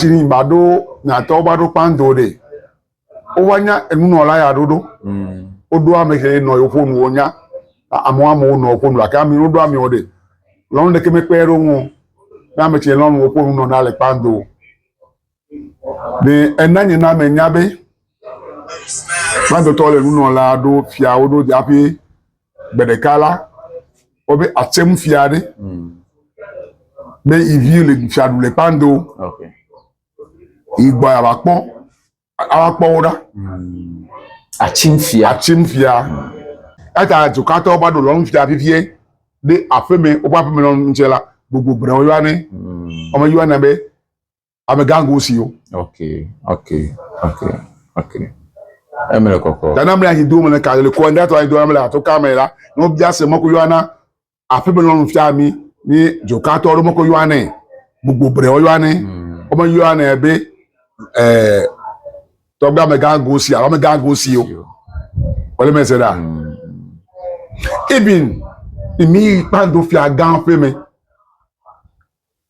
Tini ba ɖo nyatɔ woba ɖo kpando ɖe. Wova nya enunɔla ya ɖoɖo. Woɖo ame ke nɔ yewo ƒo nuwo nya. Amewo amewo nɔ ƒo nu gake ami woɖo amewo ɖe. Lɔnu ɖeke mekpe ɖe ŋu. Ne ame tse lɔnu woƒo nu nɔ na le kpando. Ɖe ena nye na menya be kpandotɔ le nunɔla ɖo fiawo ɖo hafi Gbe ɖeka la, wobe atsem fia ɖe be hmm. ivi le fiaɖu le kpando igbɔ yava kpɔ ava kpɔ wo ɖa hmm. atsim fia atsim fia hmm. eta dzokatɔwo va ɖo lɔnu fia vivie ɖe aƒeme woƒe aƒeme lɔnu ŋutsɛ la gbogbo gblẽ woyɔa ne wɔme yɔa ne be amegango siwo. ok ok ok ok eme le kɔkɔ. dana mle anyi do mele ka le kɔ ɛnda tɔ anyi do mele ato ka mele la ne wo bia se mɔko yɔana aƒe me lɔnu fia mi ni dzoka tɔ ɖe mɔko yɔanɛ gbogbo bre wo yɔanɛ hmm. wɔme yɔanɛ be ɛɛ tɔgbe amegango si alo amegango siwo wòle mɛ se ɖa hmm. ibin mi kpando fia gã ƒe me.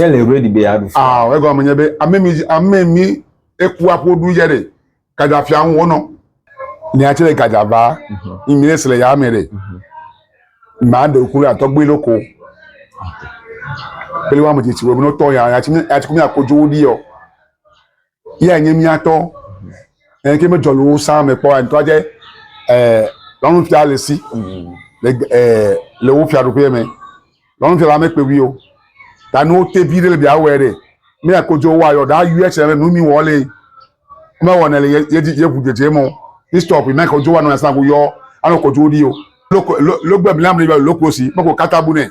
Ne le ready be yeaɖu fia. Aɔ, egɔme nye be ame mi ame mi eku aƒo ɖu yɛ ɖe. Gadza fia ŋu wonɔ. Nia tsɛ le gadza va. Yi mi ɖe se le ya me ɖe. Maa ɖe ku ɖe atɔgbe ɖo ko. Kpeli wa me tsitsi wo me no tɔ ya ya tsi mi ya tsi ku mi akodzo wo ɖi yɔ. Yea nye mía tɔ. Eye ke medzɔ le wo sã me kpɔ ŋutɔ adze ɛɛ lɔnufia le si le ɛɛ le wo fiaɖuƒea me. Lɔnufia la mekpe ŋui o. Ta ne wote vi ɖe le bia wɔe ɖe, ne ya kodzo woa yɔ ɖa yɔe tsɛ nu mi wɔ le mewɔnɛ le ye dzi ye ŋu dzedze mɔ Kristo ƒe mɛ kodzo wa nɔ asã ŋu yɔ anɔ kodzo ɖi o. Loko lo logbe blam le yɔ loklosi meko kata bu nɛ.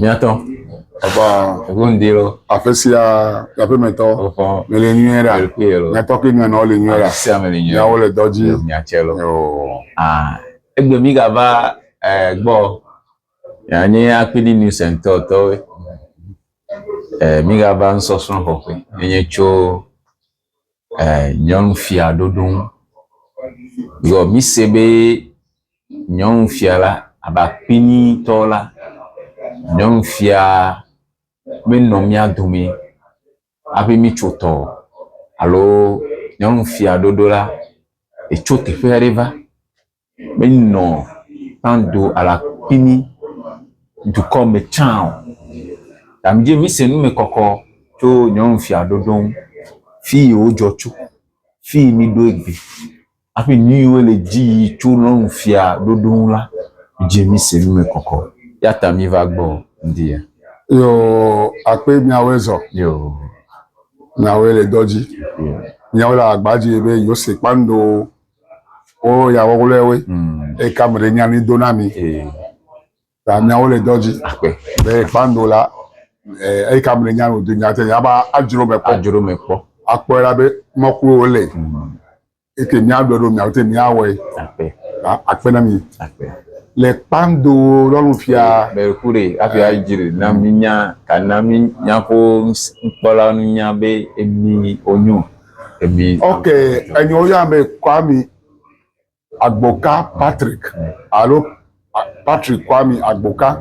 Miatɔ. Papa. Eŋu ŋdi lo. Aƒe sia aƒe me tɔ. Wofɔ. Me le nyuie ɖa. Ekpe lo. Miatɔ kple nyɔnua wole nyuie ɖa. Aƒe sia me le nyuie. Miawo le dɔ dzi. Miatse lo. Yoo. Ah. Egbe mi gava eh, gbɔ. Ya nye akpidi news and tɔ tɔwoe. Eh, mi gava ŋsɔsrɔ̃ xɔƒe. Enye tso nyɔnufia ɖoɖo ŋu. Vɔ mí se be nyɔnufia la abe akpini tɔ la, nyɔnufia me nɔ mía dome hafi mí tso tɔ o alo nyɔnufia ɖoɖo la etso teƒe aɖe va. me nɔ tando alakpini dukɔ me tsã o. Ta mi dzi mise nu me kɔkɔ tso nyɔnu fia ɖoɖo ŋu. Fi yi wo dzɔ tso, fi yi mi ɖo egbe aƒe nu yi wo le dzi yi tso nyɔnu fia ɖoɖo ŋu la, mi dzi mise nu me kɔkɔ. Ya ta mi va gbɔ ŋdi ya. Yo akpe miawoe zɔ. Yo. Miawoe le dɔ dzi. Yo. Miawo le agba dzi be yo se kpando Wo ya wɔwlɔe woe. Mm. Eye kam ɖe nya ni do na mi. Ee. Ta miawo le dɔ dzi. Akpe. Be kpando la eye kam ɖe nya no do nya te nya ba adzro me kpɔ. Adzro me kpɔ. Akpɔe la be mɔkulu wo le. Mm. Eke mia ɖɔ ɖo mia te mia wɔe. Akpe. Akpe na mi. Akpe. Le kpando lɔnu fia. Be kure afi adzre na mi nya kana mi nya ko nkpɔla nu nya be emi onyo. Ok, enyo ya me Kwame Agboka Patrick alo Patrick Kwame Agboka.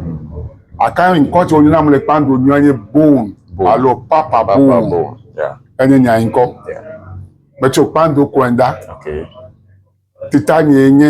Aka ŋkɔ tso nyina mle kpando nyɔ nye Bone alo Papa Bone. Enye nya ŋkɔ. Me tso kpando kɔenda. Tita nye nye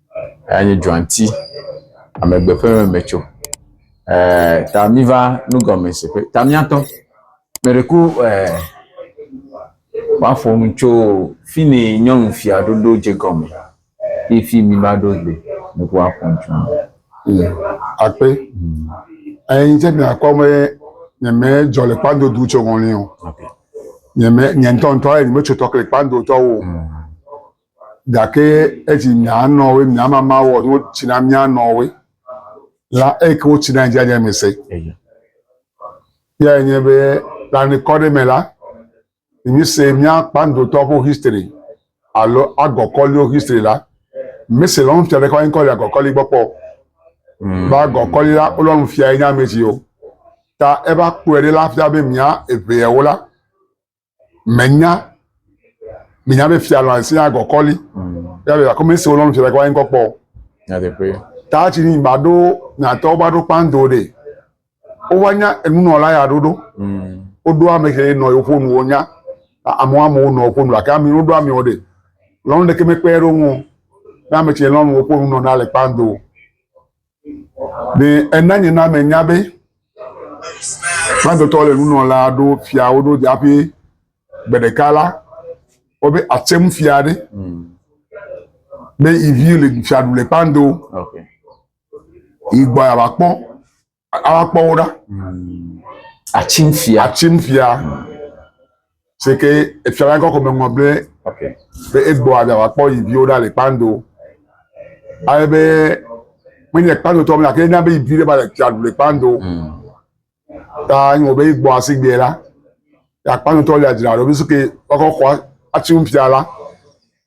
Eya nye dzɔati, amegbe ƒe memetso. Eeee ta miva nugɔmesese, ta miatɔ. Meɖeko eeee woaƒo nu tso fini nyɔnufia ɖo ɖo dze egɔme ye fi mi va ɖo le. Meɖeko woaƒo nu tso eme. Eya akpe. Eyi ŋtsi miakpɔ be nye me dzɔ le kpando du tso ŋɔli o. Nye me nye ŋtɔ ŋtɔ eyi me tso tɔ ke le kpando tɔwo. Gake esi mía nɔwoe, mía mama wɔ nu tsi na mía nɔwoe la, eye ke wotsi nae dziadzi eme se. Eyae nye be le anikɔ ɖe me la, ne míese mía kpandotɔ ƒe history alo agɔkɔliwo history la, mese lɔ̃ nufia ɖeke woankɔ le agɔkɔli gbɔ kpɔ o. Mm. Be agɔkɔli la wolɔ nufia enye ame siwo ta eva kpɔe ɖe la fia be mía eveawo la menya menya be fia lɔ asi na gɔkɔli ya be akɔmi se wolɔ fia gɔkɔli ŋkɔ kpɔ nyateƒe ta tsi ni ba ɖo nyatɔ ba ɖo kpando de wova nya enunɔla ya ɖoɖo mm. woɖo ame ke nɔ yewo ƒonu wonya amewo amewo nɔ ƒonu gake ame woɖo amewo de lɔnu ɖeke mekpe ɖo ŋu ne ame tsi lɔnu woƒonu nɔ na le kpando Ɖe ena nye na menya be Fransetɔ le nunɔla ɖo fiawo ɖo dzi hafi gbe ɖeka la, wobe atsem fia ɖe be ivi le fia ɖu le kpando. Igbɔ ava kpɔ ava kpɔ wo ɖa. Atsim fia. Atsim fia. si ke efiala ŋkɔ ko meŋlɔ be be egbɔ aɖa wòakpɔ yi viwo ɖa le kpando ale be menye kpando tɔ gake ena be yi vi ɖe va le fia ɖu le kpando hmm. ta nye wɔ be egbɔ asi gbɛ la ya kpando tɔ le adzra ɖo be si ke wakɔ xɔ atsi ŋu fia la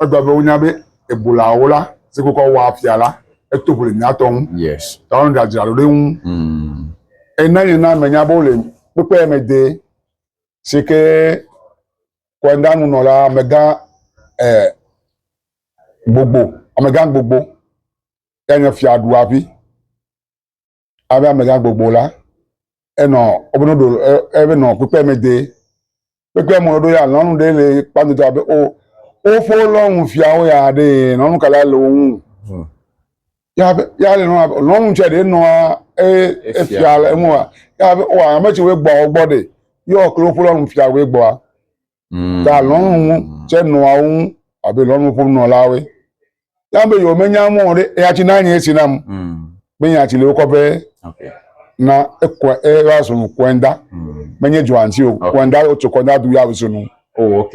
egba be wonya be ebolawo la si ke kɔ wɔ afia la eto ʋu le miatɔ ŋu ta wɔn ɖe adzra ɖo ɖe ŋu hmm. ena nye na menya be wole kpekpe me de. si ke kɔndamnɔla amegã e, gbogbo amegã gbogbo ya nye fiaɖuavi abe amegã gbogbo la enɔ wobe noɖo ebe nɔ kpekpe me de kpekpe mo ɖo ya lɔnu ɖe le kpandodo abe o wofo lɔnu fiawo ya ɖe lɔnu kala le wo ŋu. Hmm. ya be ya le nɔ abe lɔnu tsɛ ɖe nɔa eye Efia. efia le eŋua ya be wa ame tsi wo gbɔ wo gbɔ ɖe yɔ klo ƒo lɔnu fia wo gbɔa Mm. ta lɔnu ŋu tsɛ nɔa wo ŋu abe lɔnu ƒom nɔlawoe ya be yewo menya mɔ ɖe eya tsi na nye esi nam Mm. be nya tsi le wokɔ be Ok. na ekɔ eva zonu kɔɛnda Mm. menye dzɔantsi o Okay. kɔɛnda wotso kɔɛnda du ya zonu. Oh, ok.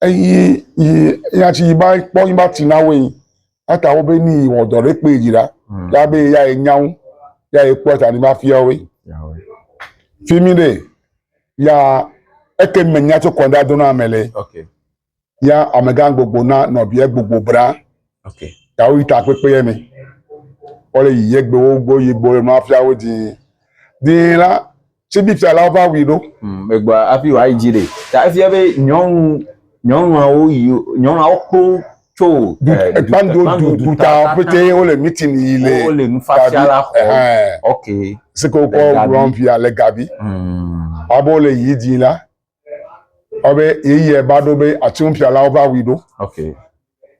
eyi yi ya ci yi ba kpɔ yi ba ti na wo yi ata wo be ni wɔ dɔ ɖe kpe dzi la mm. ya be ya ye nyawo ya ye kpɔ ta ni ba fia wo fi mi de ya eke me nya tso kɔnda do na ame le ya amegã gbogbo na nɔbia gbogbo bra ya wo yi ta kpekpe yɛ me wole yi yegbewo gbɔ yigbo le nua fia wo dii dii la Tsibifialawo va wui ɖo. Hmm, megbɔ afi wòa yi dzi ɖe. Ta efia be nyɔnu nyɔnuawo yi nyɔnuawo kpo tso ekpando eh, du du ta pete wole meeting yi le wole nufatia la xɔ ok sike wokɔ wurɔn via le gabi hmm. abo le yi dzi la ɔbe yeye ba ɖo be ati nufialawo va wui ɖo ok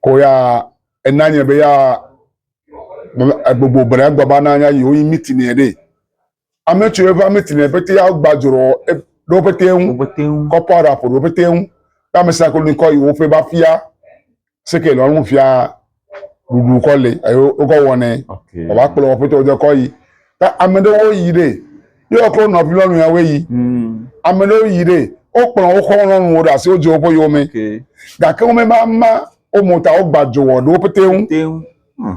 ko ya enanye be ya gbogbo bere gbɔ ba nanya yi woyi meeting yɛ ɖe. Ame tso eƒe ame tine pete ya gba dzro ɖo pete ŋu. Pete ŋu. Kɔpɔ ara ƒo ɖo pete ŋu. Be ame sa kolo kɔ yi wo fe ba fia. Seke lɔ ŋu fia ɖuɖu kɔ le ayo wo kɔ wɔne. Okay. Ba kplɔ wo pete wo de kɔ yi. Ta ame ɖe wo yi ɖe. Yo kɔ nɔ bi lɔ nu ya we yi. Mm. Ame ɖe wo yi ɖe. Wo kplɔ wo kɔ lɔ nu wo da se wo je wo po yo me. Okay. Ga ke wo me ba ma wo mo ta wo gba dzro wo pete ŋu. Pete ŋu. Hmm.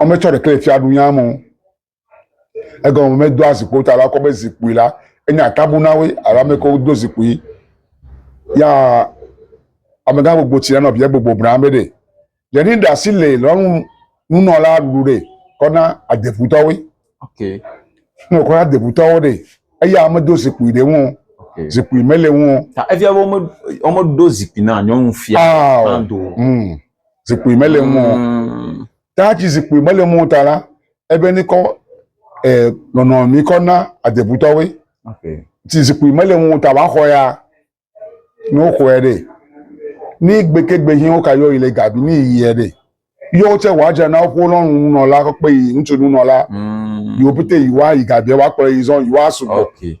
Ame tsɔ ɖekle fia ɖu nya mo. Egɔ me me do azikpo ta la kɔ be zikpui la enye atabu na we alo ame ko do zikpui. Ya ame gã gbogbo tsi nɔ bia gbogbo bra be ɖe le ni ɖa si le lɔ nu nu nɔ la ɖu ɖe kɔ na adebu tɔ we. Ok. Nɔ kɔ adebu tɔ wo ɖe eya ame do zikpui ɖe ŋu. Ok. Zikpui me le ŋu. Ta evia wo me wo me do zikpui na nyɔnu fia. Ah. Ando. Hmm. zikpui mele ŋu o. Mm. Ta ci zikpui mele ŋu o ta la, ebe ni kɔ eh, nɔnɔ mi kɔ na adebutɔwoe. Okay. Ci zikpui mele ŋu o ta wa xɔ ya ni wo xɔɛ ɖe. Ni gbeke gbe hin wo ka yɔ yi le gabi ni yi yɛ ɖe. Yɔ wo tse wa dze na woƒe lɔnu nunɔla kɔ kpe yi ŋutsu nunɔla. Mm. Yi wo pete yi wa yi gabi wa kplɔ yi zɔn yi wa sugbɔ. Okay.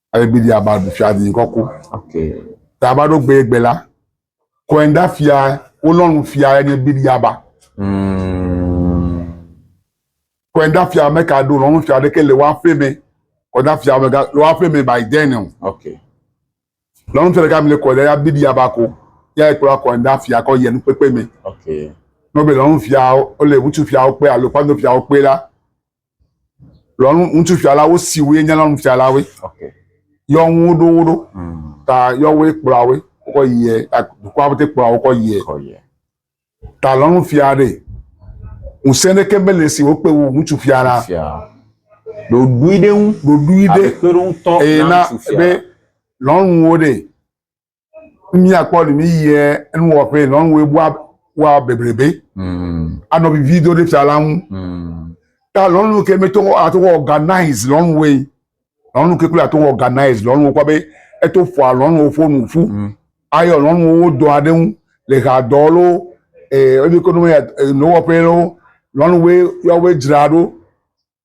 Alebidi aba ɖu fia di ŋkɔ ko. Ta aba ɖo gbe gbe la. Kɔenda fia wolɔnu fia enye bidi aba. Hmm. Kɔenda fia me ka ɖo lɔnu fia ɖeke le woaƒe me. Kɔenda fia me ga le woaƒe me by then o. Okay. Lɔnu fia ɖeka mi le kɔenda ya bidi aba ko. Ya ekplɔ kɔenda fia kɔ yenu kpekpe me. Okay. Nɔbe lɔnu fia wo le ŋutsu fia wo kpe alo kpando fia wo kpe la. lɔnu ŋutsufialawo siwoe nye lɔnufialawoe okay. yɔ ŋu ɖo wo ɖo mm. ta yɔ woe kplɔa woe wokɔ yie dukɔa pete kplɔa wokɔ yie ta lɔnufia ɖe ŋusẽ ɖeke mele si wokpe wo ŋutsufia la ɖoɖui ɖe ŋu ɖoɖui ɖe eye na be lɔnuwo ɖe mia kpɔ ni mi yɛ nu wɔ ƒe nɔ nu ebo wa bebrebe mm. anɔ vivi do ɖe fia la ŋu mm. ta lɔ nu ke meto ato organize lɔ nu we lɔ nu ke kple ato organize lɔ nu kɔ be eto fɔ alɔ nu fo nu fu mm. ayɔ lɔ nu wo dɔ aɖe ŋu le ha dɔ lo ee ebi ko nu ya nɔ wɔ ƒe lo lɔ nu we yɔ we dzra ɖo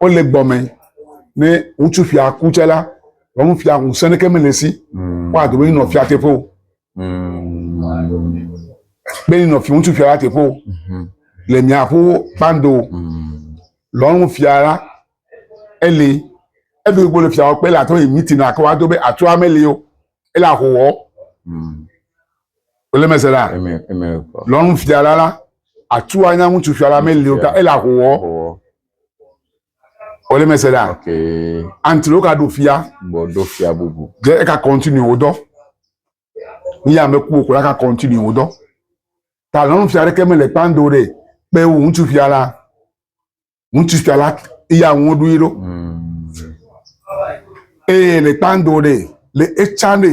wole gbɔmɛ ne ŋutsu fia ku tsɛ la wɔnu fia ŋusẽ ɖeke mele si mm. woado be nɔ fia teƒe o be nɔ fi ŋutsu fia la teƒe o mm-hmm. le miaƒo kpando mm. lɔnu fia la ele eɖo igbo le fiawo kpe le atɔ yi mitina ke wa do be atsɔ ame le yo ele ahowɔ wòle mm. mese la lɔnu fia la la atsɔ anya ŋutsu fia la mele yo ta ele ahowɔ. Wòle me se ɖa. Ok. Anti ɖewo ka ɖo fia. Gbɔ ɖo fia bubu. Ɖe eka kɔntinu wò dɔ. Nu ya me ku wò ko la ka kɔntinu wò dɔ. Ta lɔnu fia ɖeke me le kpando ɖe. Kpe wò ŋutsu fia la. Ŋutsu fia la iya ŋu ɖo yi ɖo. Hmm. Eye le kpando ɖe le etsa ɖe.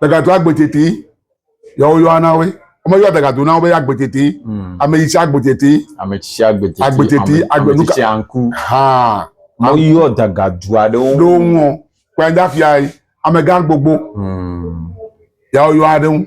Dagatu agbetete. Yawo yɔa na we. Ame yɔa dagatu na wo be agbetete. Hmm. Ame yi tsi agbetete. Ame tsi agbetete. Agbetete. Ame tsi tsi anku. Ha. Mo yɔ dagatu aɖewo. Ɖo ŋɔ. Kpɛnda fia yi. Ame gan gbogbo. Hmm. Yawo yɔa ɖe ŋu.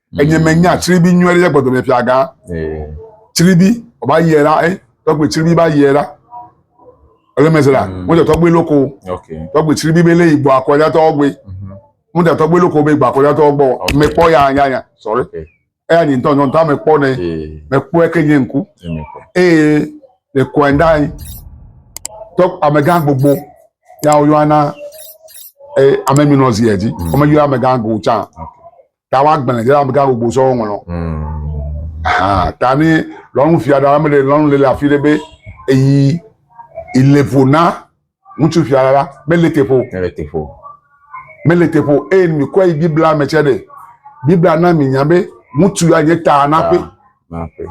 Enye mm. menya tsiribi nyuie ɖe gbɔdɔ me fiaga. Tsiribi ɔba yie la ɛ tɔgbe tsiribi ba yie la. Ele mese la mo tɔ tɔgbe loko. Tɔgbe tsiribi be le yi gbɔ akɔja tɔ gbe. Mo tɔ tɔgbe loko be gbɔ akɔja tɔ gbɔ. Me kpɔ ya ya ya sɔre. Eya nyi ntɔ ntɔ ntɔ me kpɔ ne me kpɔ eke nye ŋku. Eye le kɔɛ da yi tɔ amegã gbogbo ya wo yɔna ɛ amemi nɔ zi edzi. Ɔme yɔ amegã gbogbo tsa. Okay. ta woagblẽ ɖe amegã gbogbo sɔ woŋlɔ ahan ta ne lɔnu fia ɖa ame ɖe lɔnu le le afi ɖe be eyi ile ƒo na ŋutsu fia ɖa be le teƒo le teƒo mele teƒo eye mi kɔ yi biblia me tsɛ ɖe biblia na mi nya be ŋutsu ya nye ta na ƒe ta na ƒe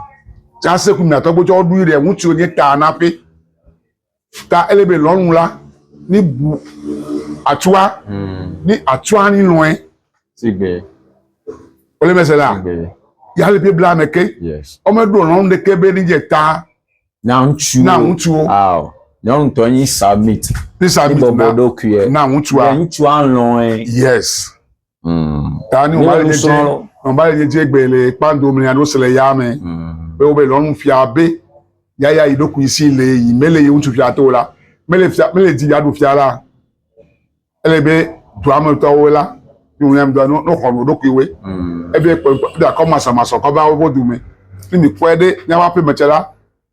tsase ku miatɔ gbɔtsɔ woɖu yi ɖe ŋutsu nye ta na ƒe Ta ele be lɔnu la ni bu atua ni atua ni lɔe. Sigbe. Ole me se la. Sigbe. Ya le Biblia me ke. Yes. Ɔme ɖo lɔnu de ke be ni je ta. Na ŋutsu. Na ŋutsu. Aw. Nyɔnu tɔ ni submit. Ni submit na. Bɔbɔ ɖo kuye. Na ŋutsu. Ŋutsu alɔe. Yes. tani ɔba le nye dze ɔba le nye dze gbe le kpando mle alo se le ya me be wo be lɔnu fia be yaya yi ɖokui si le yi mele yi ŋutsu fia to la mele fia mele di ya ɖu fia la ele be dua me tɔwo la ni wo yam dua no no xɔnu ɖokui we ebe kpɔ da kɔ masamasɔ kɔ ba wo bo du me ni mi kɔe ɖe nyawa pe me tsɛ la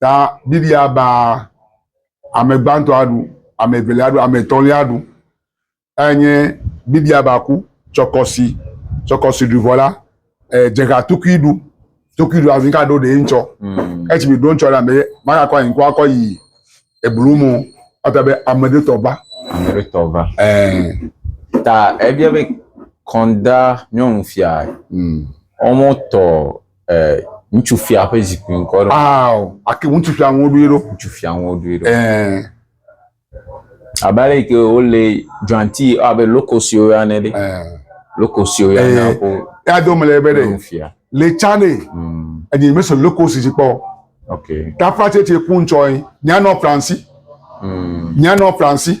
Ta Biblia baa ame gbãtɔ aɖu, ame evelia aɖu, ame etɔ̃lia aɖu. Eyae nye Biblia ba ku tsɔkɔsi, tsɔkɔsi ɖuvɔ la, eh, dzeha tukui ɖu, tukui ɖu azi ka ɖo ɖe ŋtsɔ. Mm. Etsi mi ɖo ŋtsɔ la me magakɔ anyi kɔ akɔ yi eblu mo. Ata be ame ɖe tɔ va. Ame ɖe tɔ va. Eh. Ta ebia be kɔnda nyɔnufia. Mm. Wɔmɔ tɔ Eh, ŋutsu fia ƒe zikpui ŋkɔ ɖo. Aao, ake ŋutsu fia ŋu ɖoe ɖo. Ŋutsu fia ŋu ɖoe ɖo. Eh. Abe ale ke wo le dranti abe lokosio ya ne ɖe. Eh. Lokosio ya na ko. Ya do mele be ɖe. Ŋutsu fia. Le tsane. Mm. Enye me so lokosi si kpɔ. Okay. Ta fa tete ku ŋtsɔe. Nya no Fransi. Mm. Nya no Fransi.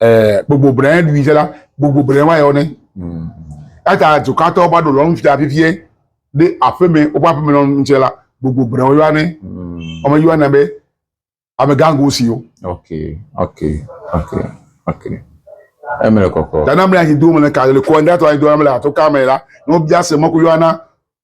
eh, gbogbo brɛ ɖui sɛ la gbogbo brɛ wa yɔ ne mm. eta tukatɔ ba ɖo lɔ nu fia fifie ɖe aƒeme woƒe aƒeme lɔ nu tsɛ la gbogbo brɛ wa yɔ ne wɔme yɔ ne be amegango siwo. ok ok ok ok eme le kɔkɔ. tana mle anyi do mle ka le kɔ ndatɔ anyi do mle ato ka mɛ la n'o bia se mɔku yɔ ana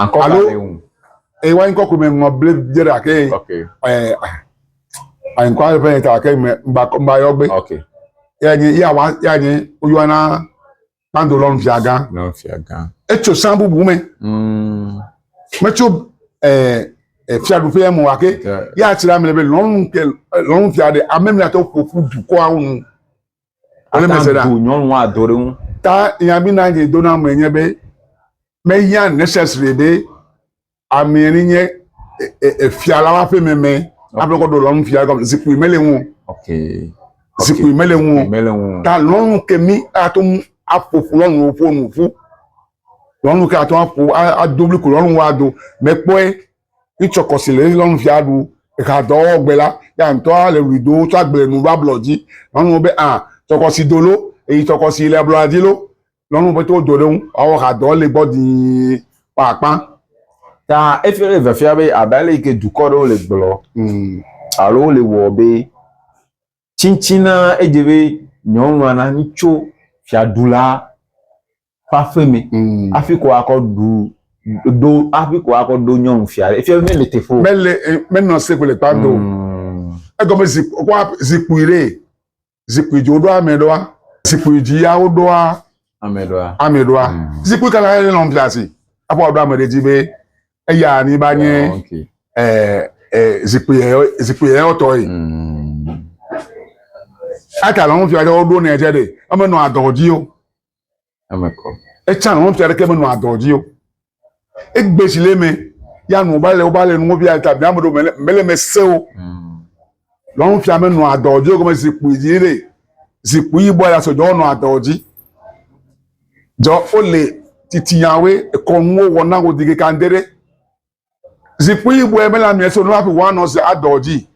Ankɔ Alo- kale ŋu. Eye wa ŋkɔ kume ŋɔ ble dze ɖa ke Ok. ɛ a ŋkɔ ale fɛn ta ke me ŋba kɔ ŋba yɔ gbe. Ok. Ya nye ya wa ya nye o yɔ na kpando lɔ nfia gan. Nɔ fia gan. Etso san bubu me. Mm. Me tso ɛ ɛ fiaɖuƒe ya me wa ke Ke- ya tsira me le be lɔnu ke lɔnu fia ɖe ame mi atɔ ƒoƒu dukɔa wo nu. Wole ata mese ɖa. ŋu bu nyɔnua do ɖe ŋu. Ta ya mi na nye dona me nye be me ya necessary be amea ni nye efia la wa ƒe me me a ƒe kɔ do lɔnu fia gɔme zikpui me le ŋu okay zikpui me le ŋu me le ŋu ta lɔnu ke mi a to mu a ƒo ƒo lɔnu wo ƒo nu ƒu lɔnu ke a to a ƒo a do bli ku lɔnu wa do me kpɔe Ŋtsɔ kɔ si le Xexlẽnu fia ɖu exa dɔ wɔ gbe la, ya ŋtɔ a le wli do tsɔ agble nu va blɔ dzi. Lɔnu wo be a tsɔ kɔ si do lo, eyi tsɔ kɔ si le ablɔ la dzi lo. Lɔnu wo be to do ɖe ŋu a wɔ xa dɔ le gbɔ dii kpɔ akpã. Ta efi le vefia be abe ale yi ke dukɔ ɖewo le gblɔ alo wo le wɔ be Tsitsina edze be nyɔnua na mitso fiaɖula ƒe aƒe me mm. hafi ko akɔ ɖu ɖo hafi ko akɔ ɖo nyɔnu fia ɖe efia mele teƒe o. mele eh, menɔ se kple kpa do mm. egɔme zikpui ɖe zikpui dzi woɖo ame ɖoa zikpui dzi ya woɖoa ame ɖoa ame ɖoa mm. zikpui kana yɛ lɔn fiasi aƒɔ aɖo ame ɖe dzi be eya ni ba nye Oh, okay. eh, eh, zikpui yɛ- zikpui yɛyɔtɔ ye Mm. ata le ŋufia ɖe woɖo nɛ tsɛ ɖe emenɔ adɔ dzi o Eme kɔ. etsa le ŋufia ɖe ke menɔ adɔ dzi o egbe si le mɛ ya nu ba le wo ba le nu ŋufia ta bia me ɖo mele mele mɛ se o Mm. Nyɔnufia me nɔa dɔ dzi gɔme zikpui dzi ɖe zikpui yibɔ ya sɔdzɔ nɔa dɔ dzi. Dzɔ wole titiawe ekɔ nuwo wɔ na wo di ke kan dere. Zikpui yibɔ me la mia so nɔa fi wa nɔ se adɔ dzi.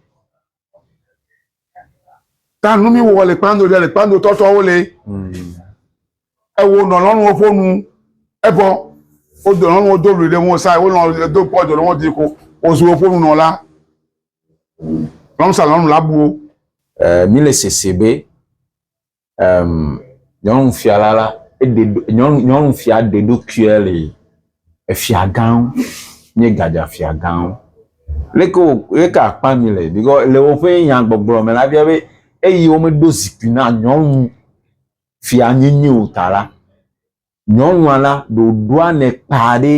Ta nu mi wɔ le kpando ɖe le kpando tɔtɔ wo le. Ewo nɔ lɔnu wo fo nu ebɔ wo do lɔnu wo do lu ɖe wo sa wo nɔ do pɔ do lɔnu di ko wo zu wo fo nu nɔ la. Lɔnsa lɔnu la buwo. Eh, mi le sese be, ehm, nyɔnu fia la la, ede, nyɔnu, nyɔnu fia de do kuɛ le efia gão, nye gadja fia gão. Leke wo, leke akpa mi le? Because le woƒe nya gbɔgblɔ me la, bia be, eyi wo me do zikui na nyɔnu fia nyenye o ta la, nyɔnua la ɖoɖoa ne kpa ɖe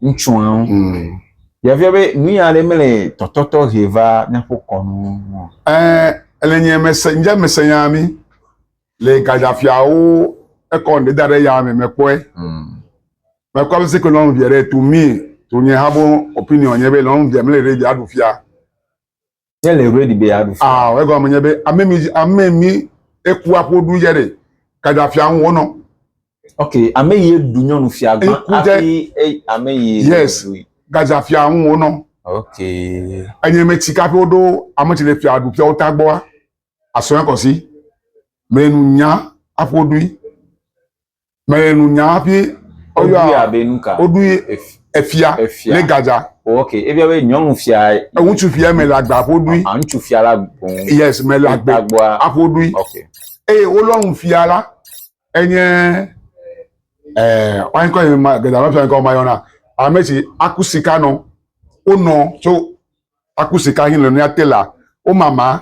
ŋutsua ŋu. Mm. Yefia be nu ya ɖe mele tɔtɔtɔ he va míaƒe kɔnu ŋu. Ɛ ele nye mese nye mese ya mi le gajafiawo ekɔ ne da ɖe ya me mekpɔe. Mm. Mekpɔ be seke lɔnu via ɖe tu mi tu nye ha bo opinion nye be lɔnu via mele ɖe via ɖu fia. Ne le ready be yeaɖu fia. Aɔ, egɔme nye be ame mi ame mi eku aƒo ɖu dze ɖe kadafia ŋu wonɔ. Ok, ame yi eɖu nyɔnu fia gbã hafi ame yi. Yes, kadafia ŋu wonɔ. Ok. Enye me tsi kaƒe woɖo ame tsi le fia ɖu fia wota gbɔa, asɔe kɔsi. Me nu nya aƒo ɖui. Mele nunya hafi woyɔa be nuka? Woɖu efia le Gaza. Oh, ok, ebia be nyɔnu fia. Ŋutsu fia mele agba aƒo ɖui. Ah, ŋutsu fia la gbɔn. Yes, mele agba aƒo ɖui. Ok. Eye wolɔnu fia la enye ɛɛ wɔn kɔ yi ma Gaza ƒe fia kɔ ma yɔna ame si aku sika nɔ wonɔ tso aku sika hin le nuyate la womama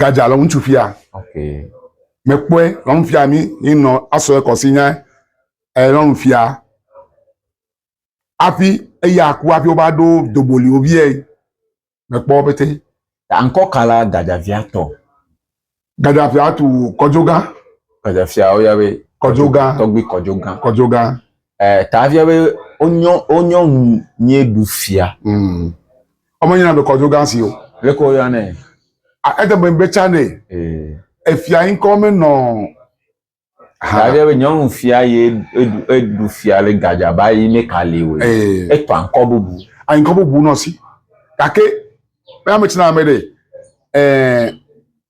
gadza lɔ ŋutsu fia mekpɔe lɔ ŋu fia mi yi nɔ asɔ ekɔ si nya e lɔ ŋu fia afi eya ku afi wo va ɖo doboli wo vie mekpɔ pete ankɔ kala gadza fia tɔ gadza fia tu kɔdzo gã gadza fia wo ya be kɔdzo gã tɔgbi kɔdzo gã kɔdzo gã eh, ta via be wonyɔ wonyɔ ŋu nye ɖu fia. Mm. Ọmọ nyina be kɔdo gan si o. Le ko ya ne. A ete me be tsa ne. Eh. Efia yin kɔ me nɔ. Ta via be nyɔnu fia ye edu edu fia le gadja ba yi ne kali o. Eh. Eto ankɔ bubu. Ankɔ bubu nɔ si. Kake me ame tsina ame de. Eh.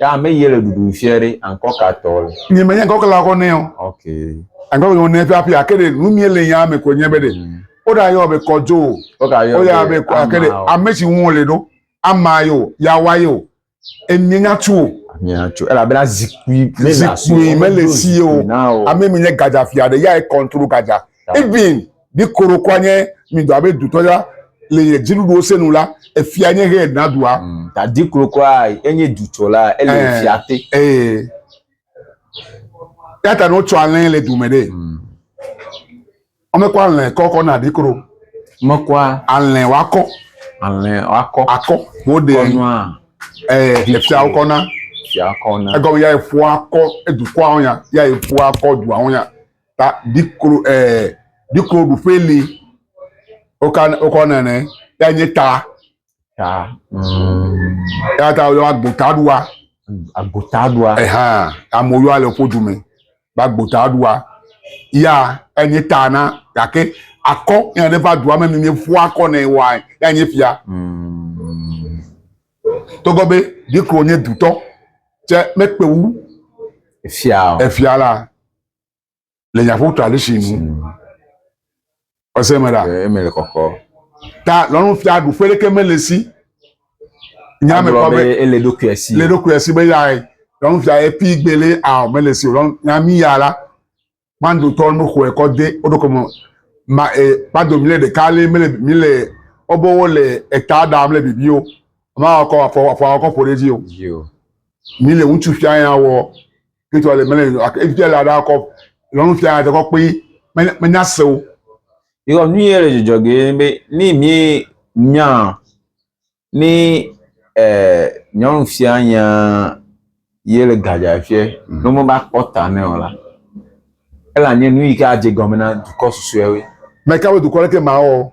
Ya ame yi le ɖuɖu fiɛ ɖe ankɔ ka tɔ le. Nye me nye ankɔ kala kɔ nɛ o. Ok. Ankɔ kɔ nɛ pia pia ke ɖe nu mi le ya me ko nye be ɖe. Mm. O da yɔ be kɔdzo o. O ka yɔ. O ya be kɔ ke ɖe ame si ŋu le ɖo. Ama yo ya wa yo. Emie nya tu o. Mia tu. Ela bena zikui. Zikui me le si o. Ame mi nye gadza fia ɖe ya e control gadza. Even. Ni koro kɔ nye mi dɔ abe dutɔ ya le nye dziɖuɖuwo se nu la, efia nye he na dua. Mm, ta di koro kɔ enye dutɔ la ele eh, fia te. Eh. Ya ta no tsɔ alɛ le dume ɖe. Mm. Ame kɔ alɛ kɔ kɔ na di koro. Me kɔ alɛ wa kɔ. Alɛ wa kɔ. Akɔ. Wo de. Kɔnua. Eh, efia wo kɔ na. Efia kɔ na. Egɔme ya efua kɔ edukɔa ya ya efua kɔ dua ya. ta biklo ɛɛ bikloɖuƒe li woka wokɔ nane ya nye ta. Ta. Eya ta woyɔ agbotaɖua. Agbotaɖua. Ehan amewo yɔa le woƒe du me be agbotaɖua ya enye ta na gake akɔ ya ne va dua me mi mieƒu akɔ nɛ wa ya nye fia. Mm. Togbɔ be biklo nye dutɔ tse mekpe wu. Efia. Efia la. le nyaƒu to ali si nu ɔsɛ me la eme le kɔkɔ ta lɔnu fia ɖu ƒe ɖeke mele si nya me kɔ be ele ɖokui asi le ɖokui asi be ya lɔnu fia ye pi gbele a mele si lɔnu nya mi ya la kpando tɔ me xɔe kɔ de o ɖokɔ me ma e kpando mi le ɖeka le mele mi le ɔbɔwo le eta da mele bibi o ma kɔ afɔ afɔ kɔ ƒo ɖe dzi o mi le ŋutsu fia ya wɔ Kristo ale mele nyo ak evite la da kɔ lɔnu fia ate kɔ kpe menya se o. Yɔ nu ye le jɔjɔ ge be ni mi nya ni eh nyɔnu fia nya ye le gadja fie mm. no mo ba kpɔ ta ne o la. Ela nye nu yi ke adje gɔme na dukɔ susuewe. Meka be dukɔ le ke ma o.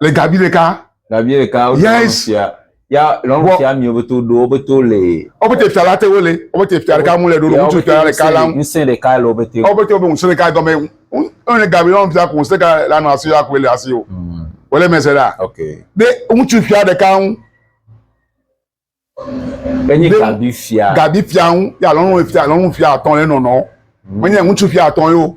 Le gabi ɖeka. Gabi ɖeka wo yes. fia. Ya lɔnu fia mi wobe to ɖo wobe to le. Wobe te fia la te wo le. Wobe te fia ɖeka mu le ɖo ŋutsu fia ɖeka la. Ŋusẽ ɖeka le wobe te. Wobe te wobe ŋusẽ ɖeka gɔme. Ŋusẽ gabi lɔnu fia ko ŋusẽ ɖeka la nɔ asi ya ko le asi o. Hmm. Wole mese la. Okay. De ŋutsu fia ɖeka ŋu. Enye gabi fia. Gabi fia ŋu ya lɔnu fia lɔnu fia atɔ le nɔnɔ. Hmm. Menye ŋutsu fia atɔ yo.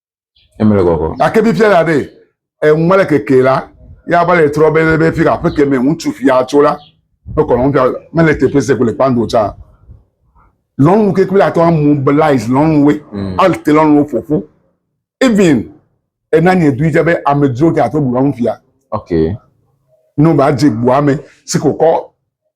Emele gɔgɔ. Gake fifia la be eŋua le keke la, ya va le trɔ be be fi aƒe ke me ŋutsu fia tso la, be kɔlɔn fia mele teƒe se ko le kpando tsa. Lɔnu ke kple atɔ mobilize lɔnuwe, mm. ate lɔnuwo ƒoƒu. Even ena nye dui tsa be amedzro ke ato bu lɔnu fia. Okay. No ba dze gbua me si ko kɔ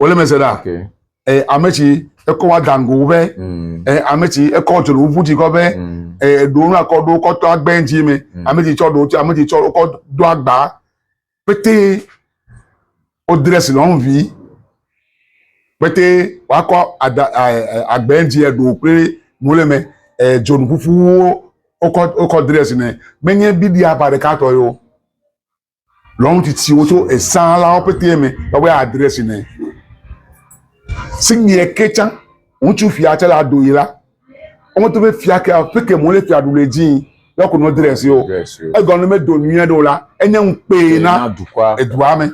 wòle me se ɖa ee ame tsi ekɔ wa dango ƒe mm. ee ame tsi ekɔ tsoro ʋu tsi kɔ ƒe mm. ee ɖo nu akɔ ɖo kɔ tɔ agbɛ ŋtsi me mm. ame tsi tsɔ ɖo tsi ame tsi tsɔ kɔ do agba pété o dress lɔn vi pété wakɔ ada agbɛ ŋtsi eɖo kple mo le me ee dzonu ƒuƒuwo wokɔ wokɔ dress nɛ menye bibi aba ɖeka tɔ yio. lɔnu tsitsiwo tso esãlawo pete me woƒe adrɛsi nɛ. Sinyɛ ke tsã ŋutsu fia tsɛ la ɖo yi la, wometo be fia ke peke mo le fia ɖule dzi lɔ ko no drɛsi o. Egɔme medo nyuie ɖo la, enye ŋukpee na edua me.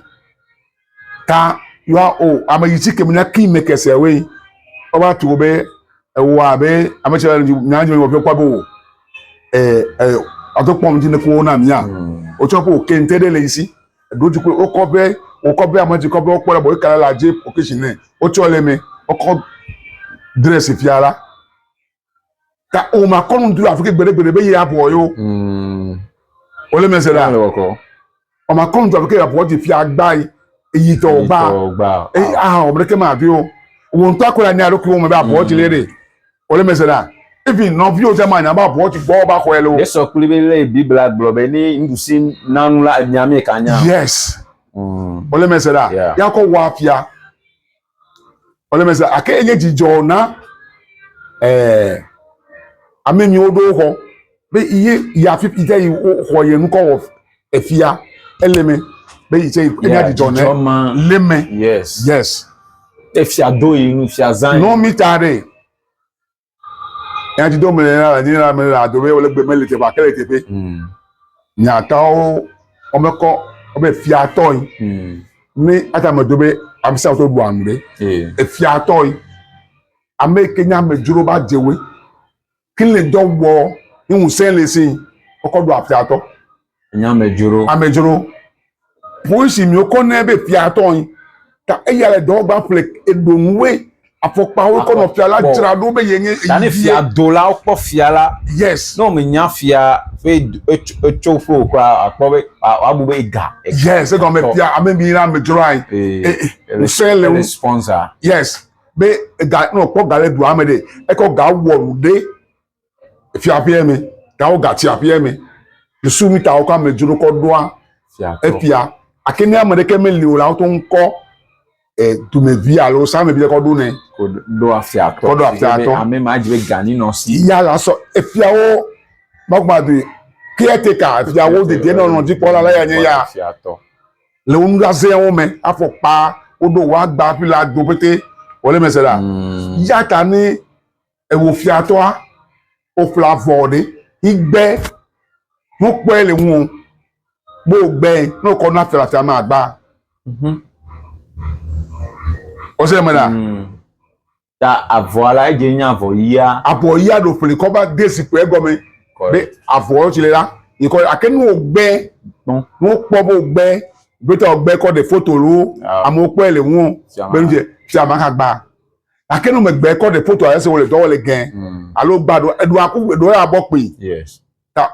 ta yɔa o ame yi si kemi na ki me kese we ɔba to be ewa be ame tsɛ nya nyɔ be kwa be o ɛ ɛ ɔtɔ kpɔm ti ne ko na mia o tsɔ ko kente de le yi si do ti ko o kɔ be o kɔ be ame ti kɔ be o kpɔ la bo kala la je o ke si ne o tsɔ le me o kɔ dress fia la ka o ma kɔ nu du afi ke gbede gbede be ye abɔ yo mm. o le mese la o ma kɔ nu du afi ke abɔ ti fia gba yi eyi tɔ gba eyi aha o breke ma vi o wo ŋutɔ akɔ la nya ɖo kuro me be abɔ ti le de o le mese la efi nɔvi o tɛ ma nya ba abɔ ti gbɔ ba xɔ yɛ le o. yesɔ kuli be le bibla gblɔ be ni nuɖusi nanu la nya mi ka nya. yes o le mese la yakɔ wa fia. Wole me se ake enye dzidzɔ na eh, ame mi woɖo xɔ be ye ya fi ite yi xɔ ye nukɔ wɔ efia ele me be yi tse enya dzidzɔ ne le me yes yes efia do yi nufia zan nɔ mi ta ɖe Nya ti dom le la nye la me le ado be wole gbe mele teƒe ake le teƒe. Hmm. Nyatawo wɔme kɔ wɔbe fiatɔ yi. Hmm. Ne ata me do be amsa to bu anu be. Efiatɔ yi. Ame ke nya me dzro ba dzewe. Kile dɔ wɔ ni ŋusẽ le si. Kɔkɔ do afiatɔ. Nye amedzro. Amedzro. Polisi mi wokɔ nɛ be fia tɔ yi. Ta eya le dɔ gba ƒle eɖo nu we afɔkpawo kɔ nɔ fia la dzra ɖo be ye nye eyi. Ta ne fia do la wokpɔ fia la. Yes. Ne mi nya fia be etso ƒo kura akpɔ be abu be ega. Yes egɔme fia ame mi la amedzro ayi. Ee. Ose le wo. Sponsor. Yes. Be ega nɔ kpɔ ga le dua me de ekɔ ga wɔ nu de. fiaƒea me ta wo ga tiaƒea me dusu mi ta wo ka me dzro kɔ ɖoa efia ake ne ame ɖeke me li o la wo to ŋkɔ e dume vi alo sa me bi kɔ ɖo ne ko ɖo afia tɔ kɔ ɖo afia tɔ ame ma dzi be gani nɔ si ya la sɔ efia wo magba do caretaker efia wo de de nɔ nɔ dzi kpɔla la ya nye ya le wo nu la zɛ wo me afɔ kpa wo ɖo wa gba fi la do pete wole mese la mm. ya ta ne ewò fiatɔa, òƒle avɔ ɖe yi gbe nukpɔe le ŋuwò be wògbe ne wòkɔ na fia le afia me agbaa? Mhm. Ɔse ɖe me ɖa. Mm. Ta avɔa la edze nye avɔ yia. Avɔ yia ɖo ƒli kɔ va de zikpui egɔme. Be avɔ tsi le la yi kɔ ake nu wògbe nu wokpɔ be wògbe gbetɔ wògbe kɔ ɖe foto lo amewo kpɔe le ŋuwò be nu dze fia ma hã gbaa. gake no megbe kɔ ɖe foto ese wole dɔ wole gɛ mm. alo gba ɖo eɖo aku eɖo ya bɔ kpi ta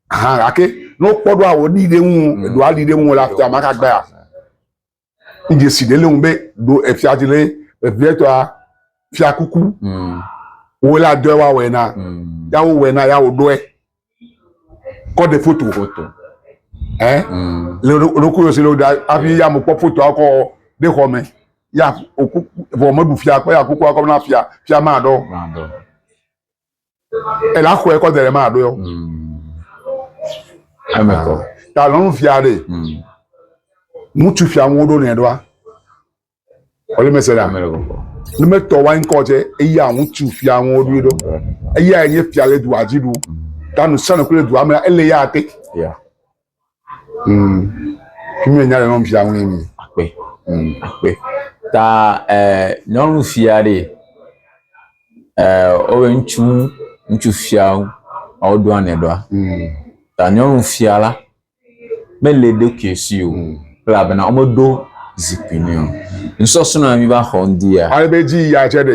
hã gake no kpɔ ɖo awo ɖi ɖe ŋu mm. eɖo ali ɖe ŋu la fia maka gba ya idze si ɖe le ŋu be ɖo efia ti le evia tɔa fia kuku mm. wole adɔe wa wɛna mm. ya wo wɛna ya wo ɖɔe kɔ ɖe foto foto ɛ le ɖokuɖo si le da hafi ya mo kpɔ fotoa kɔ ɖe xɔ me ya oku vɔ meɖu fia kɔ ya kukua kɔ na fia fia ma ɖɔ ela xɔe kɔ da ɖe ma ɖɔ yɔ eme kɔ ta lɔnu fia ɖe ŋutsu fia ŋu ɖo nɛ ɖoa Wòle mese ɖa. Ne metɔ wa ŋkɔ tse, eya ŋutsu fia ŋu woɖoe ɖo. Eya enye fia le dua dzi ɖu. Ta nu sia nu kple dua me la, ele ya te. Mm. Fi mi nya le nyɔnu fia ŋu mi. Akpe. Mm. Akpe. Ta eh, nyɔnu fia ɖe eh, wobe ŋutsu ŋutsu fia ŋu, woɖoa ne ɖoa. Mm. Ta nyɔnu fia la, Mele eɖokui si o, elabena womeɖo zikpui nɛ o. Nusɔsrɔ̃ ya míva xɔ ŋdia? Ale be edzi yia tsɛ ɖe.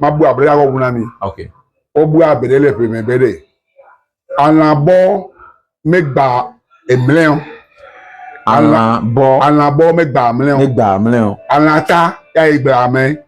Mabu abe ɖeka kɔ ŋu na mi. Wobu abe ɖe le ƒeme be ɖe alã bɔ megba emlɛ o. Alã bɔ. Alã bɔ megba mlɛ o. Megba mlɛ o. Alã ta ya ye gblea mɛ.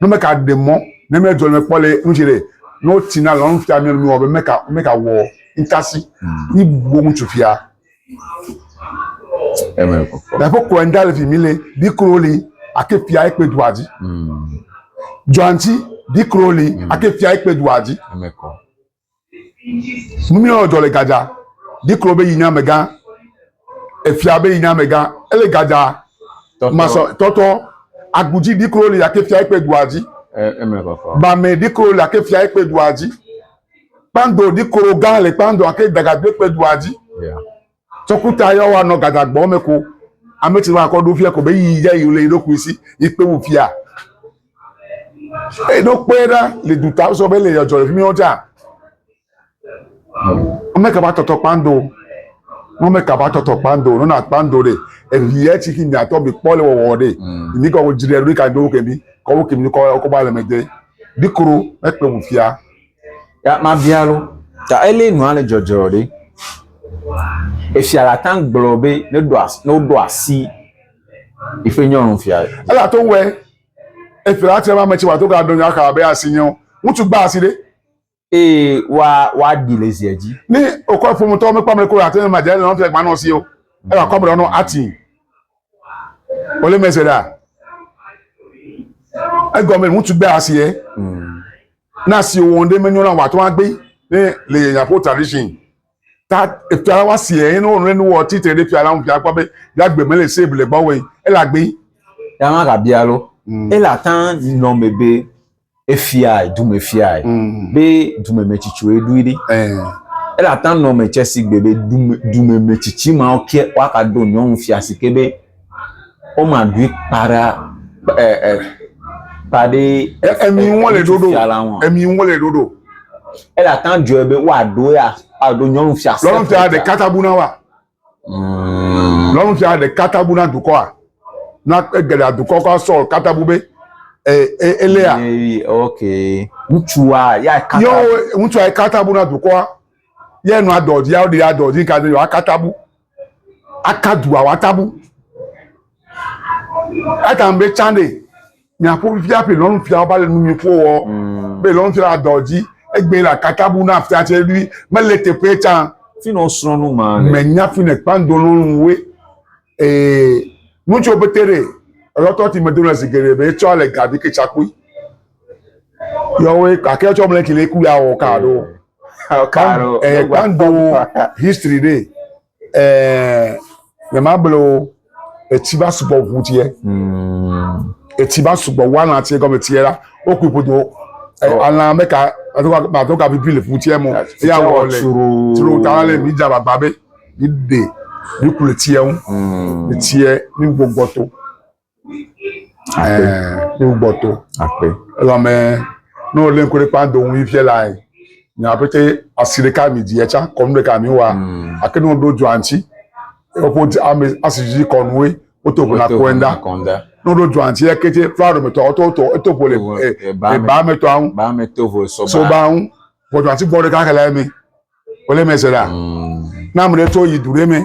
no meka de mɔ ne me dɔ ne kpɔ le nu jere no tina lɔn fia me nu be meka meka wɔ ntasi hmm. ni bo ŋutsu fia eme ko da ko ko enda le fi mi le bi kro li ake fia ekpe du adi hmm. joanti bi kro li hmm. ake fia ekpe du adi eme ko Numiɔ jɔ le Gaza. Diklo be yi nye amegã. Efia be yi nye amegã. Ele Gaza masɔ tɔtɔ. Agudzi diklo le yake fia ekpe dua dzi. Bame diklo le ake fia ekpe dua dzi. Kpando diklo gã le kpando ake dagagbekpe dua dzi. Yeah. Tsɔkuta yɔ wa nɔ gadagbɔ me ko. Ame ci wa kɔ ɖo fia ko be yi ja yi le ɖokui si yi kpe wu fia. E ɖo kpe ɖa le du ta sɔ be le yɔ jɔ le fimi ɔja. Ame ka ba tɔtɔ kpando. Mo me ka ba tɔtɔ kpando no na kpando de. E vi e ci ki mi atɔ bi kpɔ le wɔwɔ de. Ni kɔ wo jire ri ka do ke bi. Kɔ wo ke mi kɔ kɔ ba le me de. Bi kro e kpe wu fia. Ta mabia wo, ta elie nua le dzɔdzɔ ɖe? Efia la ta gblɔ be ne ɖo as ne woɖo asi eƒe nyɔnu fia. Ela to wɛ efia la tia ame tsi wa to ga do nyɔa ka be asi nyɔ. Ŋutsu gba asi ɖe. Eye wa wa ɖi le zia dzi. Ni okɔ efo mutɔ me kpam le ko ate ma dze nɔ fia gba nɔ si o. Ela kɔ mrɔ nɔ ati. Ole mese ɖa. Egɔme ŋutsu gba asi ye. Na si wòwɔn ɖe menyo la wòatɔ agbe ne le yenya ƒe tradition ta efia la wa si eye ne wònɔ nu wɔ tsi tre ɖe fia la ŋu fia kpɔ be ya gbe mele se bele gbɔ wɔ ele agbe. Ya ma ga bia lo. Mm. Ele ata nɔ me be efia dume fia mm. be dume me tsitsi wòe ɖui ɖi. Eh. Ele ata nɔ me tsɛ si gbe be dume dume me tsitsi ma wòke waka do nyɔnu fia si ke be Woma dui kpa ɖe ɛ ɛ kpa ɖe. Emi ŋu wole ɖoɖo. Emi ŋu wole ɖoɖo. Ele ata dzɔe be woaɖo ya aɖo nyɔnu fia. Nyɔnu fia ɖeka tabu na wa. Mm. Nyɔnu fia ɖeka tabu na dukɔa. Na egeɖa dukɔ kɔ Saul katabu be elea. Okay. Ŋutsua ya kata. Yɔ ŋutsua katabu na dukɔa. Yɛ nua dɔdzi ya ɖe ya dɔdzi kadzi wa katabu. aka dua watabu etam be can ɖe miaƒo fifia ƒe lɔnu fia woba le numi ƒo wɔ mm. be lɔnu fia dɔ dzi egbe la katabu na fia tse ɖui mele teƒe can. fi na osrɔnu ma le. menya fi ne kpando lɔnu we ee ŋutsu pete ɖe elɔtɔ ti me do le zi geɖe be etsɔ le gavi ketsakui yɔwoe gake etsɔ mle kele ku ya wɔ ka ɖo. Karo, eh, kan do history de eh me ma blo etsi ba sugbɔ ʋu tiɛ hmm. etsi ba sugbɔ ʋu alã tiɛ gɔme tiɛ la wo kui ƒodo eh, oh. alã me ka ma to ka bibi le ƒu tiɛ mo ya wɔ le tro ta le mi dza gbagba be mi de mi ku le tiɛ ŋu le tiɛ mi gbɔgbɔ to. Ɛɛ, wo gbɔ to. Akpe. Elɔmɛ, ne wo lɛn koɖe kpa do ŋu ifiɛ la yi. Nya pete asi ɖeka mi di etsa kɔnu ɖeka mi wa. Mm. Ake ne wo ɖo dzoa ŋtsi, eƒo di ame asi dzi kɔnu we, wo to ŋuna kɔɛ ŋda. Kɔnda. Ne wo ɖo dzoa ŋtsi eke tse fla ɖo mɛtɔ ɔtɔ ɔtɔ eto ƒo le e ba mɛtɔ aŋu. Ba mɛ to vo sɔ ba. So ba aŋu. Vɔ dzoa ŋtsi gbɔ ɖeka ke la eme. Wo le mɛ se la. Mm. Na ame ɖe tso yi du ɖe mɛ.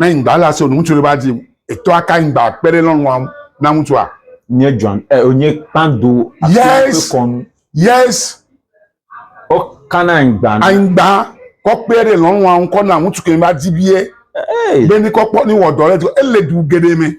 Ne nyigba le asi ŋutsu ɖe va dzi etɔ aka nyigba kpe ɖe lɔlɔ̃a ŋu na ŋutsua. Nye John ɛ eh, onye kpando yes kɔnu yes o kana nyigba na anyigba kɔ kpe ɖe lɔlɔ̃a ŋu kɔ na ŋutsu ke va dzi vie be ni kɔ kpɔ ni wɔ dɔ ɖe to ele du geɖe me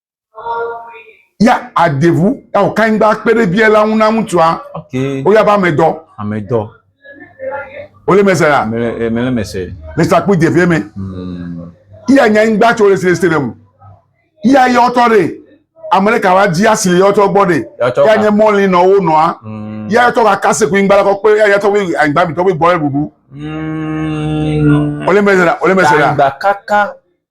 ya adevu ya o kan gba kpe ɖe bia la ŋu na ŋutsua okay. o ya ba amedɔ amedɔ o le mese la mele mele mese le sakpu devie me hmm. ya nya ŋgba tso le sile sile mu ya ya ɔtɔ ɖe ame ɖe ka wa di asi le ya ɔtɔ gbɔ ɖe ya nye mɔli nɔ wo nɔa hmm. ya ɔtɔ ka kase ku ŋgba la kɔ kpe ya ya tɔ wo agba mi tɔ wo gbɔ ɖe ɖuɖu o le mese la o le mese la.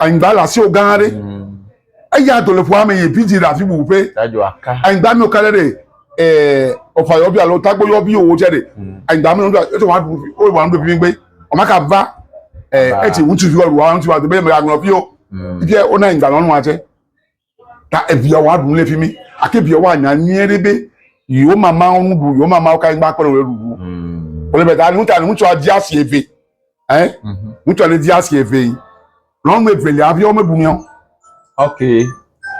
anyigba le asiwò gã aɖe mm. eya do le ƒua me yi bidzi ɖe afi bubu ƒe anyigba mi ka ɖe ɖe ɛɛ ɔfa yɔbi alo tagbo yɔbi wo tsɛ ɖe mm. anyigba mi wòle eto wa ɖu wo wa ɖu fi gbɛ ɔma ka va ɛɛ eti ŋutsuvi wa ɖu wa ŋutsuvi wa do bɛ mɛ aŋlɔ fi o ibi yɛ wona anyigba lɔnu wa tsɛ. Ta eviawo aɖu le fi mi. Ake viawo anya nyuie ɖe be yewo mamawo nu ɖu, yewo mamawo ka anyigba kple wo ɖuɖu. Hmm. Wole be ta nu ta ŋutsua di asi eve. Hein? Mhm. Ŋutsua ne di asi eve yi. Nyɔnu evelia viawo meɖu nɛ o. Ok.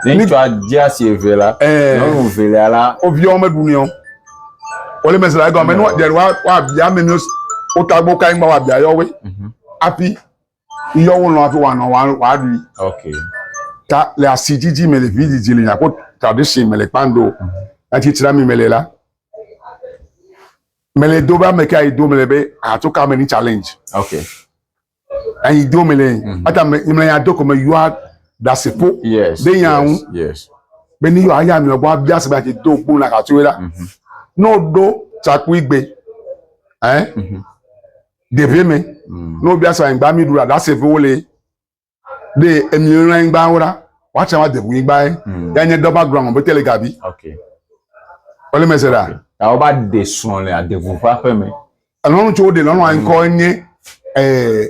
Ne ŋutsua di asi eve la, eh. nyɔnu evelia la. Wo viawo meɖu nɛ o. Wole me se la egɔme ne wa wa bia me mi wo ta gbɔ ka anyigba wa bia yewo. Mhm. Afi yɔ wo lɔn afi wa nɔ wa wa ɖui ok ta le asi dzidzi me le vi dzidzi le nyako tradition me le kpando ati tsira mi me le la me le do ba me ka do me le be ato ka me ni challenge ok ayi do me le mhm. ata me me ya do ko me yua da se po yes de ya un yes be ni yo aya mi obo abia se ba ti do po na ka tu la mhm. no do chakui gbe eh mm -hmm. Ɖevi mi, mm. ne wobia sɔ anyigba mi ɖu la, ɖase ƒe wole. Ɖe emi lɔlɔ anyigba wo la, woatsɛ wa debu anyigba ye. Mm. Ya nye dɔba gblɔ aŋɔ bete le gabi. Ok. Wole mese ɖa. Ya wo ba de srɔ̃ le adevu ƒe aƒe me. Elɔnu tso woɖe lɔnu anyikɔ mm. nye ɛɛ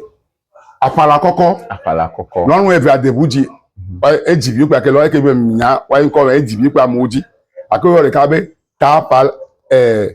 afala kɔkɔ. Afala kɔkɔ. Lɔnu eve adevu dzi. Mm-hmm. Edzi bi kpa ke lɔ eke be nya wa anyikɔ edzi bi kpa amewo dzi. Ake yɔ ɖeka be ta pa ɛɛ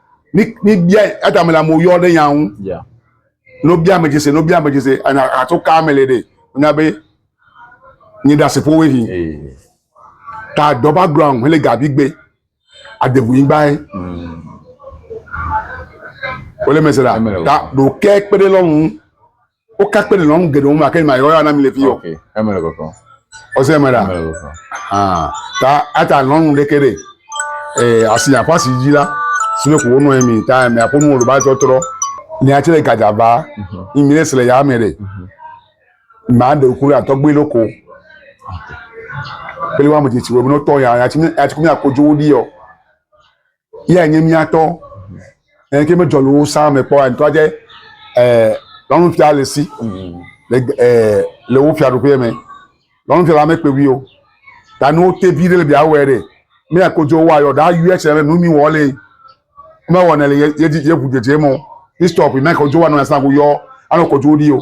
Míbia Adam le amewo yɔ ɖe nya ŋu. Ne wobia ame dzese, ne wobia ame dzese, ato ka me le ɖe? Wonya be nye ɖe aseƒo wo hi. Ta dɔ ba gblɔ ŋu hele gavi gbe. Adebu yi gbae. Mm. Wole mese la. Ta ɖo kɛ kpe ɖe lɔnu. Wo ka kpe nɔnɔ nu geɖewo me ake ma yɔ ya na mi le fi yo. Okay, eme le kɔkɔ. Ɔse eme la. Ah, ta ata nɔnu ɖe ke ɖe. Eh, asi ya fasi dzi la. Sine ko wo nɔ mi ta me apo nu wo ba tɔtrɔ. Ni a tsere gaja va. Ni mi le ya me ɖe. Ma de ku la tɔgbe lo ko. Pele wa mo ti ti wo no to ya ya ti mi ya ti ku mi akojo wo di yo. yea nye mía tɔ. Eke me jɔlu wo sa me kpɔ a ntɔ adze eh lɔnu fia le si le eh le wo fia ɖoƒe me. Lɔnu fia la me kpe wi o. Ta no te vi le bia wɔ ere. Me ya ko jo wa yo da yu eche me nu mi wɔ le. Me wɔ ne le ye ye ye bu je je mo. Ni stop me ko jo wa no ya sa ko yo ano ko jo di o.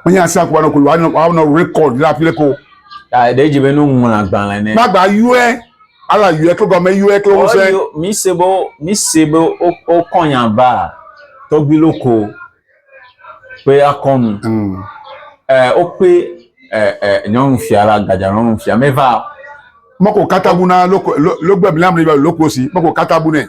Wonye asi akɔ anɔ ko wanɔ rekɔd ɖe afi ɖe ko. Ɖe edzi be nuŋlɔ agbalẽ ne. Magba yɔe ala yɔe kle gɔme yɔe kle wosɛ. Mi se be mi se be wokɔ nya ba tɔgbi loko pe akɔnu. Ɛɛ wope ɛɛ nyɔnufia la gadza nyɔnufia meva. Mɔko katabu na loko logbe mi la mi loko si mɔko katabu ne.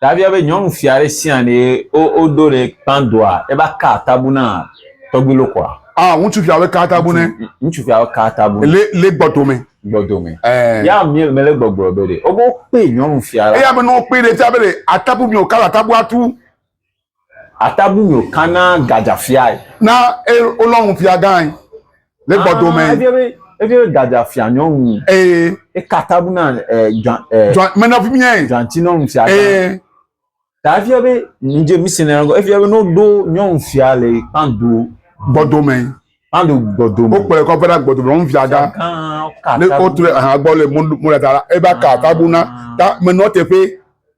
Dagbea be nyɔnu fia ɖe sia ɖe wo wo ɖo ɖe kpã doa eva ka atabu na tɔgbi lo kɔa. Ah ŋutsu fia be ka atabu ne. Ŋutsu fia be ka atabu. Le le gbɔdo me. Gbɔdo me. Eh. Ya mi me le gbɔgblɔ be ɖe. Obo kpe nyɔnu fia la. Eya be no kpe ɖe fia be ɖe atabu mi o ka atabu atu. Atabu nyo kana gadza fiae. Na e olɔ ŋu fia gãe le gbɔdo mɛ. Efia be efia be gadza fia nyɔ ŋu. Eye. Eka atabu na e dza e. Dza menafi miɛ. Dzanti nɔ ŋu fia gã. Eye. Ta efia be nudze mi sɛnɛ ŋgɔ efia be no ɖo nyɔ ŋu fia le kpando. Gbɔdo mɛ. Kpando gbɔdo mɛ. Wo kplɔe kɔ vena gbɔdo mɛ ŋu fia gã. Gã ka atabu. Ne o tu ɖe aha gbɔ le mo mo ɖe ta la eba ka atabu na ta menɔ teƒe.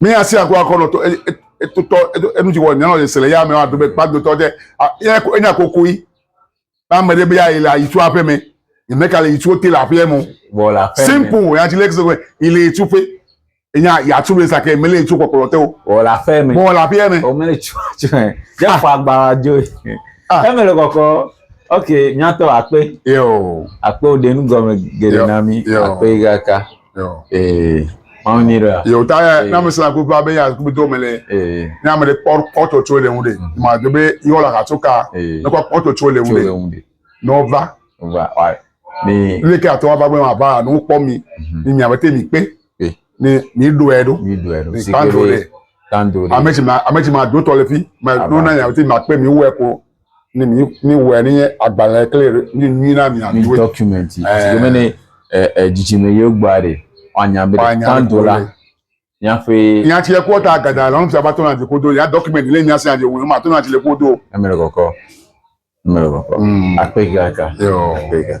mi asi aku akɔ nɔ to etotɔ enu ti wɔ nyɔnɔ le sele ya me wa do be kpa do tɔ tɛ ya ko enya koko yi ba me de be ya ile ayi tu aƒe me ne ka le yi tu te le aƒe mo simple ya ti le kse ko ile yi tu pe enya ya tu be sa ke mele tu kokolo te o o la aƒe me o la aƒe me o mele tu tu me ya ah. fa gba jo ah. e mele koko ok nyatɔ akpe yo akpe o de nu gɔme gele na mi akpe gaka Yo. Ee. Mawu nyi ɖe. Yo ta ya na me sala ko va be ya ko do me le. Ee. Ne ame de kpɔ kpɔ to tso le ŋu de. Ma do be yo la ka tso ka. Ee. Ne kpɔ kpɔ to tso le ŋu de. Tso le ŋu de. No va. Va wa. Ni. Ne ke ato va gbe ma va no kpɔ mi. Ni mi abete mi pe. Pe. Ni mi do e do. Mi do e do. Ni kando de. Kando de. Ame ti ma ame ti ma do to le fi. Ma no na ya abete ma pe mi wo e ko. ne mi mi wɔ ne agbalẽ kle ni nyui na mi a mi document ti ke me ne dzidzime yio gba re wanya be tan do la nya fe nya ti ko ta gada la nfia ba to na ti ko do ya document le nya se ade wo ma to na ti le ko do e me le koko me le koko mm. a pe ga ka yo a pe ga